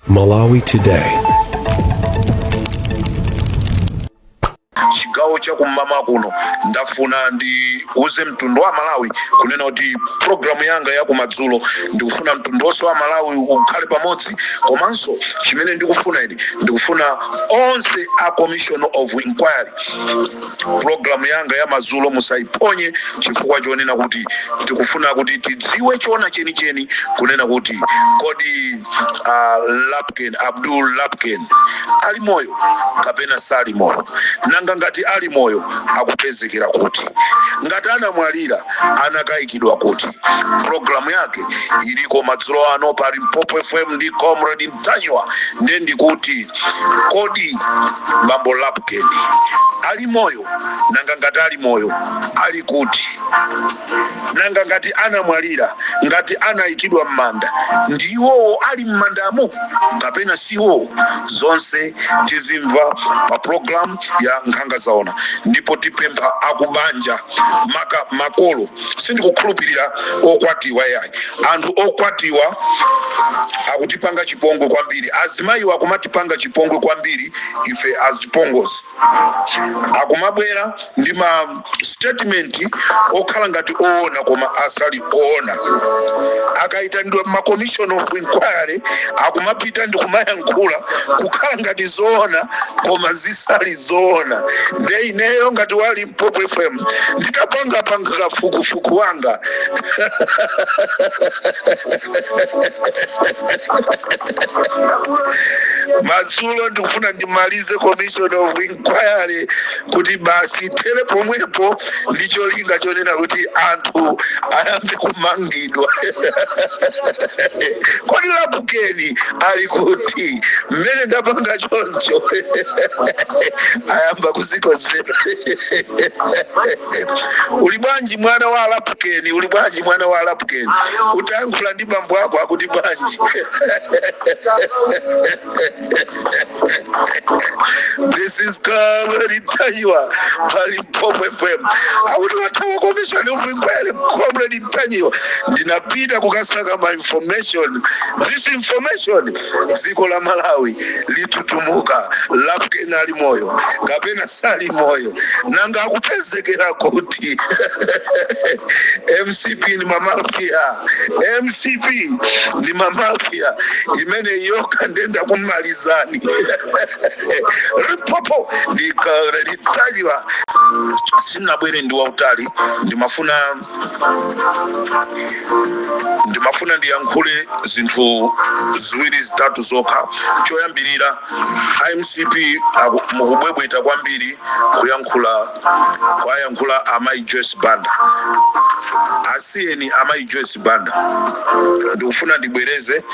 Malawi Today. chigawo cha kum'mawa kuno ndafuna ndiuze mtundu wa malawi kunena kuti programu yanga ya kumadzulo ndikufuna mtundu wonse wa malawi ukhale pamodzi komanso chimene ndikufuna ine ndikufuna onse a commission of inquiry programu yanga ya madzulo musaiphonye chifukwa chonena kuti tikufuna kuti tidziwe chona chenicheni kunena kuti kodi a lapukeni abdul lapukeni ali moyo kapena sali moyo nanga ngati ali moyo akupezekera kuti ngati anamwalira anakayikidwa kuti programu yake iliko madzulo ano pa limpopo fm ndi comrade ntanyiwa nde ndikuti kodi bambo lapukeni ali moyo nanga ngati ali moyo ali kuti nanga ngati anamwalira ngati anayikidwa m'manda ndi iwowo ali m'mandamo kapena si iwowo zonse tizimva pa programu ya nkhanga zaona ndipo tipempha akubanja maka makolo sindikukhulupirira okwatiwa yayi anthu okwatiwa akutipanga chipongwe kwambiri azimayiwo akumatipanga chipongwe kwambiri ife azipongozi akumabwera ndi ma statement okhala ngati oona koma asali oona akayitanidwa ma commission of inquiry akumapita ndi kumayankhula kukhala ngati zoona koma zisali zoona nde ineyo ngati wa li popo fm nditapanga panga kafukufuku wanga madzulo ndikufuna ndimalize commission of inquiry kuti basi ithere pomwepo ndi cholinga chonena kuti anthu ayambe kumangidwa kodi lapukeni ali kuti mmene ndapanga choncho ayamba ku dzikodzera uli bwanji mwana wa a lapukeni uli bwanji mwana wa a lapukeni utayankhula ndi bambo ako akuti bwanji this is comrade ntanyiwa pa limpopo fm akuti wathawa commission of inquiry comrade ntanyiwa ndinapita kukasaka ma information this information dziko la malawi litutumuka lapukeni ali moyo kapena sali moyo nanga akupezekera kuti mcp ni mamafia mcp ni mamafia imene yokha nde ndakumalizani limpopo ndi comrade ntanyiwa sinabwere ndi wautali ndimafuna ndimafuna ndiyankhule zinthu ziwiri zitatu zokha choyambirira a mcp aku- mukubwebweta kwambiri kuyankhula kuwayankhula amayi joyce banda asiyeni amayi joyce banda ndikufuna ndibwereze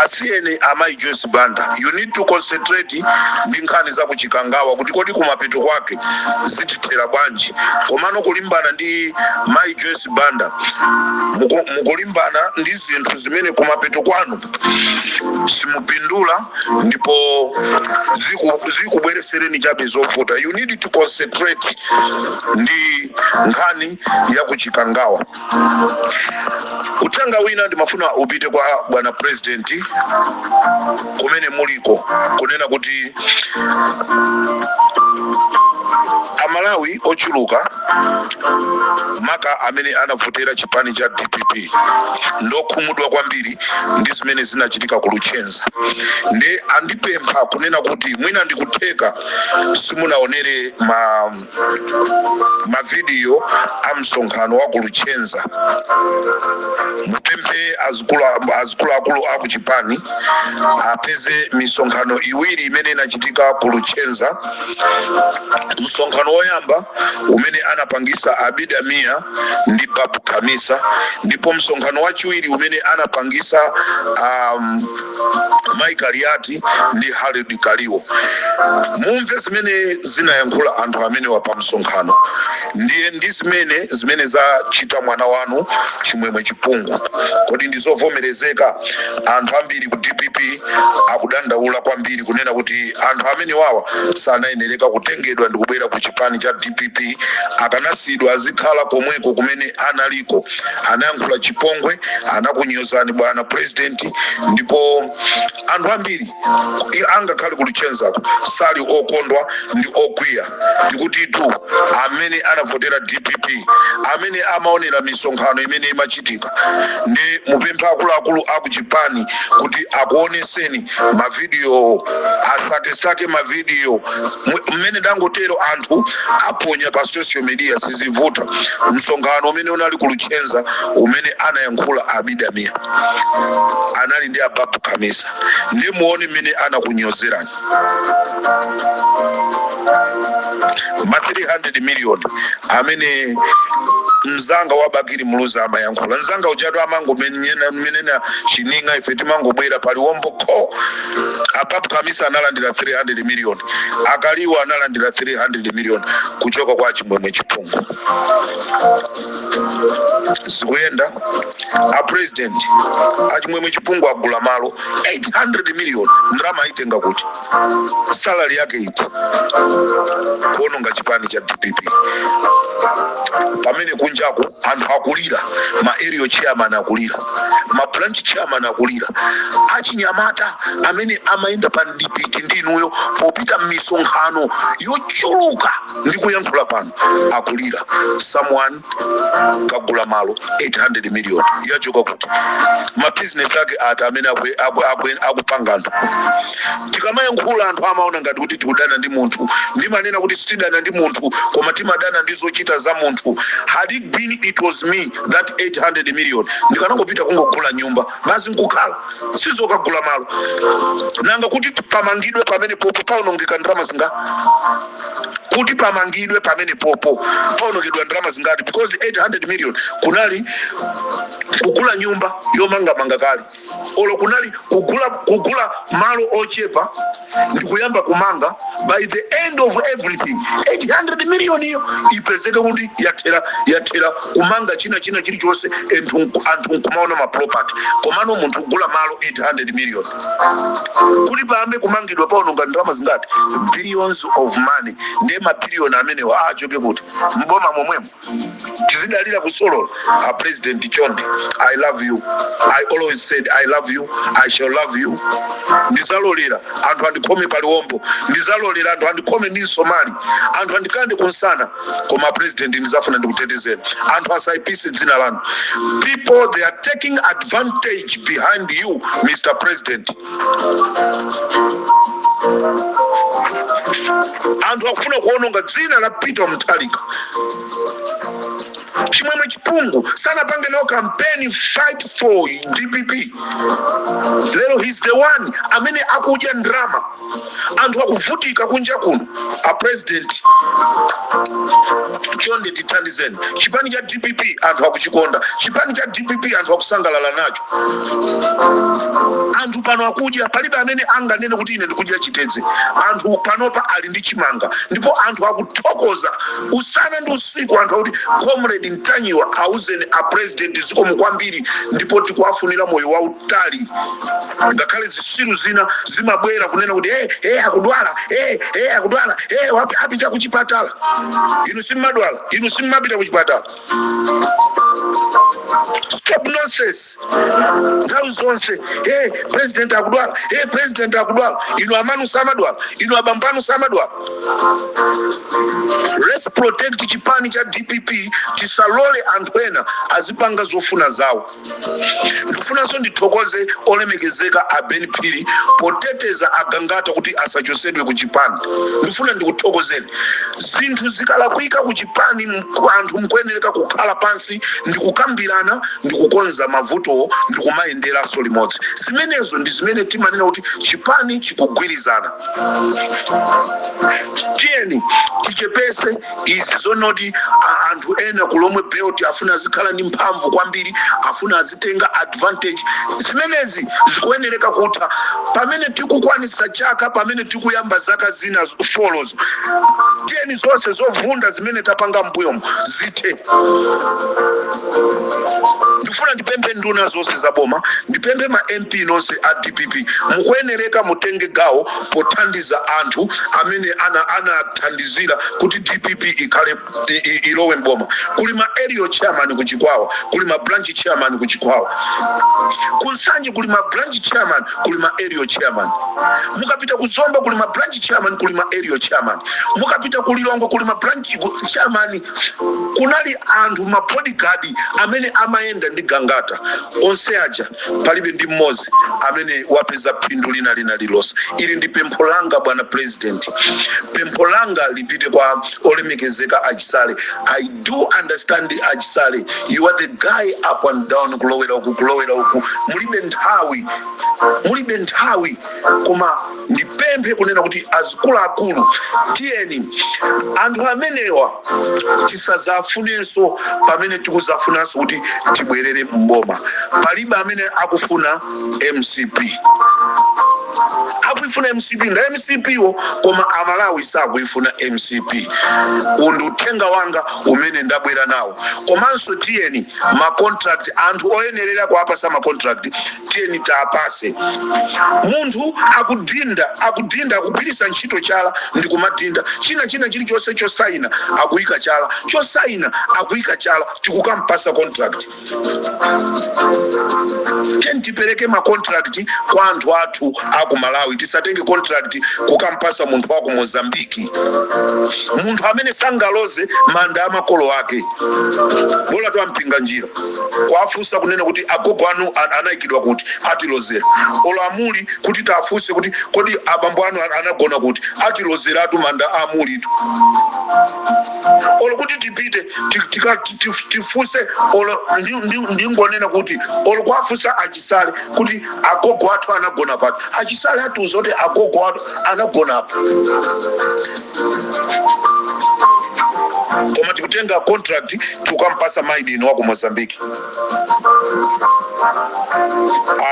asiyeni amayi joyce banda you need to concentrate ndi nkhani za kuchikangawa kuti kodi kumapeto kwake zitithera bwanji komano kulimbana ndi mayi joyce banda muku- mukulimbana ndi zinthu zimene kumapeto kwanu simupindula ndipo ziku- zikubweresereni chabe zovuta you need to concentrate ndi nkhani ya kuchikangawa uthenga wina ndimafuna upite kwa bwana president kumene muliko kunena kuti amalawi ochuluka maka amene anavotera chipani cha dpp ndokhumudwa kwambiri ndi zimene zinachitika ku luchenza nde andipempha kunena kuti mwina ndikutheka simunaonere ma mavidiyo a msonkhano wa ku luchenza mupemphe azikulu- azikuluakulu a ku chipani apeze misonkhano iwiri imene inachitika ku luchenza msonkhano woyamba umene anapangisa abida mia ndi babu khamisa ndipo msonkhano wachiwiri umene anapangisa um, Mai Kaliati ndi Harold Kaliwo, mumve zimene zinayankhula anthu amenewa pa msonkhano ndiye ndi zimene zimene zachita mwana wanu Chimwemwe Chipungu. Kodi ndi zovomerezeka? Anthu ambiri ku dpp akudandaula kwambiri kunena kuti anthu amenewawa sanayenereka kutengedwa ndikubwera ku chipani cha dpp, akanasiyidwa azikhala komweko kumene analiko. anayankhula chipongwe anakunyozani bwana president ndipo anthu ambiri i- angakhale kuluchenzako sali okondwa ndi okwiya tikutitu amene anavotera dpp amene amaonera misonkhano imene imachitika nde mupemphe akuluakulu akuchipani kuti akuoneseni mavidiyowo asakesake mavidiyo Mwe- mmene ndangotero anthu aponya pa social media sizivuta msonkhano umene unali kuluchenza umene anayankhula abida mia anali ndi a babu khamisa nde muone mmene anakunyozerani ma 300 million amene mzanga wa bakili muluzi amayankhula mzanga ujatu amangomunena chining'a, ife timangobwera paliwombo kho ababu khamisa analandira 300 million akaliwa analandira 300 million kuchoka kwa chimwemwe chipungu zikuyenda a president a chimwemwe chipungu agula malo 800 million ndalama ayitenga kuti salary yake iti kuononga chipani cha dpp pamene kunjaku anthu akulira ma area chairman akulira ma branch chairman akulira achinyamata amene amayenda pamdipiti ndi inuyo popita m'misonkhano yochuluka ndi kuyankhula pano akulira someone kagula malo 800 million yachoka kuti mabizinesi ake ati amene akupanga anthu tikamayankhula anthu amaona ngati kuti tikudana ndi munthu ndimanena kuti sitidana ndi munthu koma timadana ndi zochita za munthu had it been it was me that 800 million ndikanangopita kungogula nyumba basi nkukhala sizokagula malo nanga kuti pamangidwe pamene popo paonongeka ndalama zinga kuti pamangidwe pamene popo paonongedwa ndalama zingati because 800 million kunali kugula nyumba yomangamanga kale olo kunali kugula malo ochepa ndikuyamba kumanga by the end of everything 800 million iyo ipezeke kuti yathera yathera kumanga china china chilichonse anthu nkumaona maproperty komano munthu kugula malo 800 million kuti payambe kumangidwa paononga ndalama zingati billions of money ndiye mabiliyoni amenewa achoke kuti mboma momwemo tizidalira kusolola a president chonde i love you i always said i love you i shall love you ndizalolera anthu andikhome paliwombo ndizalolera anthu andikhome ndi msomali anthu andikande kumsana koma president ndizafuna ndikutetezeni anthu asaipise dzina lanu people they are taking advantage behind you mr president anthu akufuna kuononga dzina la peter mutharika chimwemwe chipungu sanapange nawo kampeni fight for dpp lero he's the one amene akudya ndrama anthu akuvutika kunja kuno a president chonde tithandizeni chipani cha dpp anthu akuchikonda chipani cha dpp anthu akusangalala nacho anthu pano akudya palibe amene anganene kuti ine ndikudya chitedze anthu panopa ali ndi chimanga ndipo anthu akuthokoza usana ndi usiku anthu akuti comrade ntanyiwa auzeni a president zikomo kwambiri ndipo tikuwafunira moyo wautali kutali ngakhale zisiru zina zimabwera kunena kuti hey, hey, akudwala hey, hey, akudwala hey, wapi apita kuchipatala inu simmadwala inu simmapita kuchipatala stop nonsense nthawi zonse hey, president akudwala hey, president akudwala inu amanu samadwala inu abambanu samadwala let's protect chipani cha dpp tisalole anthu ena azipanga zofuna zawo ndifunanso ndithokoze olemekezeka a ben phiri poteteza agangata kuti asachosedwe ku chipani ndifuna ndikuthokozeni zinthu zikalakwika ku chipani mku- anthu mkuyenereka kukhala pansi ndikukambirana ndikukonza mavutowo ndikumayenderanso limodzi zimenezo ndi zimene timanena kuti chipani chikugwirizana tiyeni tichepese izi zonoti a- anthu ena ku lomwe belt afuna azikhala ndi mphamvu kwambiri afuna azitenga advantage zimenezi zikuyenereka kutha pamene tikukwanisa chaka pamene tikuyamba zaka zina z- folozo tiyeni zonse zovunda zimene tapanga mbuyomo zithe ndifuna ndipemphe nduna zonse za boma ndipemphe ma mp nonse a dpp mukuyenereka mutenge gawo pothandiza anthu amene anathandizira kuti dpp ikhale i- i- ilowe mboma kuli ma area chairman ku chikwawa kuli ma branch chairman ku chikwawa ku nsanje kuli ma branch chairman kuli ma area chairman mukapita ku zomba kuli ma branch chairman kuli ma area chairman mukapita ku lilongwe kuli ma branch ku- chairman kunali anthu ma bodyguard amene amayenda ndi gangata onse aja palibe ndi mmodzi amene wapeza phindu lina lina lilonse ili ndi pempho langa bwana president pempho langa lipite kwa olemekezeka achisale i do understand achisale you are the guy up and down kulowera uku kulowera uku mulibe nthawi mulibe nthawi koma ndipemphe kunena kuti azikuluakulu tiyeni anthu amenewa tisazawafunenso pamene tikuzafunanso kuti tibwerere mboma palibe amene akufuna mcp akuifuna mcp nda mcp wo koma amalawi sakuifuna mcp uwu ndi uthenga wanga umene ndabwera nawo komanso tiyeni macontract anthu oyenerera kuwapasa macontract tiyeni tiwapase munthu akudinda akudinda akugwiritsa ntchito chala ndi kumadinda china china chilichonse chosaina akuyika chala chosaina akuyika chala tikukampasa contract tiyeni tipereke ma contract kwa anthu athu aku malawi tisatenge contract kukampasa munthu waku mozambiki munthu amene sangaloze manda amakolo ake bola atiwa mpinganjira njira kwafunsa kunena kuti agogo anu an- anayikidwa kuti atilozera olo amuli kuti tafunse kuti kodi abambo anu an- anagona kuti atilozeratu manda a amulitu olo kuti tipite ti- tika- ti- ti- tifunse olo ndi- ndi- ndingonena kuti olo kwafunsa achisale kuti agogo athu anagona pati achisale atiuza kuti agogo athu anagona apa koma tikutenga contract tikukampasa mwayi Indian wa ku mozambique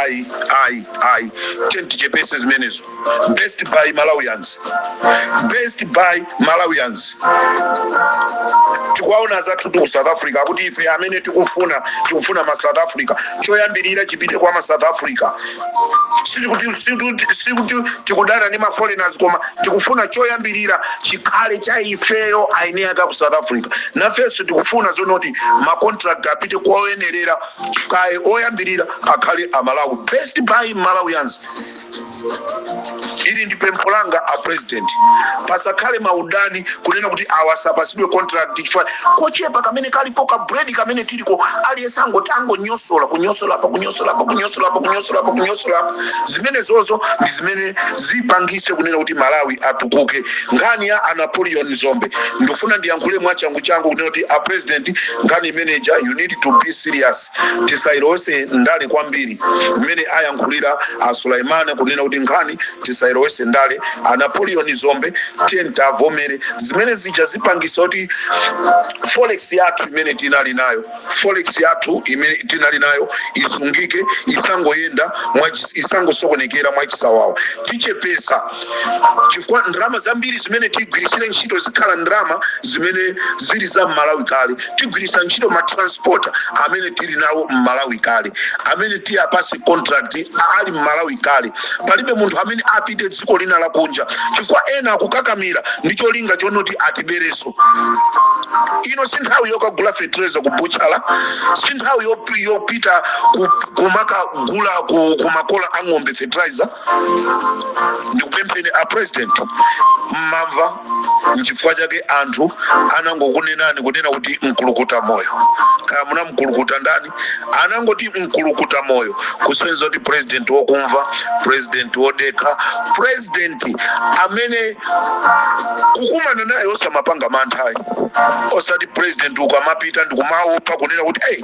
ayi ayi ayi tiyeni tichepese zimenezo best buy malawians best buy malawians tikuwaona zathu ku south africa akuti ife amene tikufuna tikufuna ma south africa choyambirira chipite kwa ma south africa sikuti sikuti- sikuti tikudana ndi maforeigners koma tikufuna choyambirira chikhale cha ifeyo eni ake a ku south africa nafenso tikufuna zonoti macontract apite kwa oyenerera kaye oyambirira akhale amalawi best buy malawians ili ndi pempho langa a president pasakhale maudani kunena kuti awa asapasidwe contract chifukwa kochepa kamene kalipo ka bread kamene tiliko aliyense angoti angonyosola kunyosola apa kunyosola apa kunyosola apa kunyosola apa kunyosola apa zimene zozo ndi zimene zipangise kunena kuti malawi atukuke nkhani ya a napoleon dzombe ndifuna ndiyankhule mwachangu changu kunena kuti a president nkhani imeneja you need to be serious tisailowese ndale kwambiri mmene ayankhulira a sulaimana kunena kuti nkhani tisailowese ndale a napoleon dzombe tiyeni tiwavomere zimene zija zipangisa kuti forex yathu imene tinali nayo forex yathu imene tinali nayo isungike isangoyenda mwachi- isangosokonekera mwachisawawa tichepesa chifukwa ndalama zambiri zimene tigwiritsire ntchito zikhale ndalama zimene zili za mmalawi kale tigwiritsa ntchito matransporta amene tili nawo mmalawi kale amene tiwapase contract a- ali mmalawi kale palibe munthu amene apite dziko lina lakunja chifukwa ena akukakamira ndi cholinga chonoti atibereso ino si nthawi yokagula fertilizer ku buchala si nthawi yop- yopita ku- kumakagula ku, ku makola a ng'ombe fertilizer ndikupempheni a president mmamva nchifukwa chake anthu anangokunenani kunena kuti mkulukuta moyo kaya munamkulukuta ndani anangoti mkulukuta moyo kusonyeza kuti president wokumva president wodekha president amene kukumana naye osamapanga mantha ayi osati president ukamapita ndikumaopa kunena kuti hey,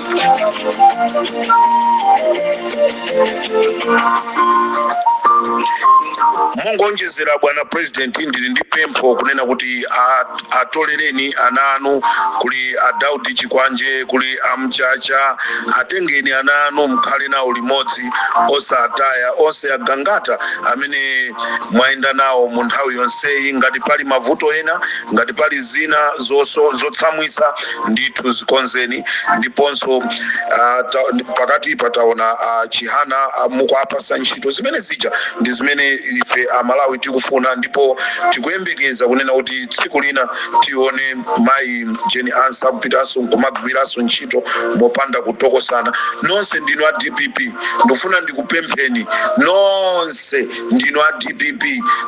mongoonjezera bwana president ndili ndi pempho kunena kuti a- atolereni ana anu kuli a daudi chikwanje kuli amchacha atengeni ana anu mkhale nawo limodzi osataya onse agangata amene mwayenda nawo mu nthawi yonseyi ngati pali mavuto ena ngati pali zina zoso- zotsamwitsa ndithu zikonzeni ndiponso uh, ta, pakati pataona a chihana uh, mukuapasa ntchito zimene zija ndi zimene ife amalawi tikufuna ndipo tikuyembekeza kunena kuti tsiku lina tione mayi jeni ansah akupitanso kumagwiranso ntchito mopanda kutokosana nonse ndinu a dpp ndikufuna ndikupempheni nonse ndinu a dpp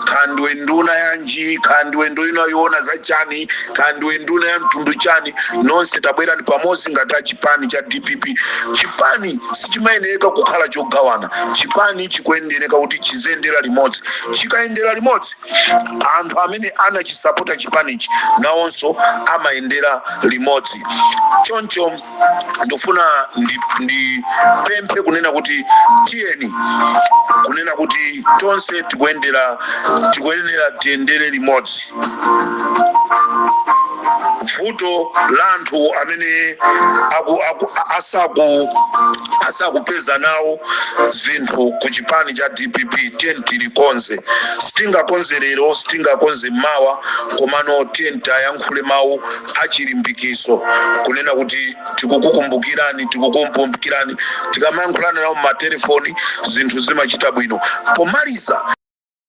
kaya ndiwe nduna yanji kaya ndiwe nduna yoona za chani kaya ndiwe nduna ya mtundu chani nonse tabwerani pamodzi ngati a chipani cha dpp chipani sichimayenereka kukhala chogawana chipani chikuyenereka kuti chiziyendera limodzi chikayendera limodzi anthu amene anachisapota chipanichi nawonso amayendera limodzi choncho ndikufuna ndipemphe kunena kuti tiyeni kunena kuti tonse tikuyendera tikuyenera tiyendere limodzi vuto la anthu amene aku, aku, asaku asakupeza nawo zinthu ku chipani cha dpp tiyeni tilikonze sitingakonze lero sitingakonze mawa komano tiyeni tayankhule mawu a chilimbikitso, kunena kuti tikukukumbukirani, tikukumbukirani. Tikamayankhulana nawo m'matelefoni, zinthu zimachita bwino. Pomaliza.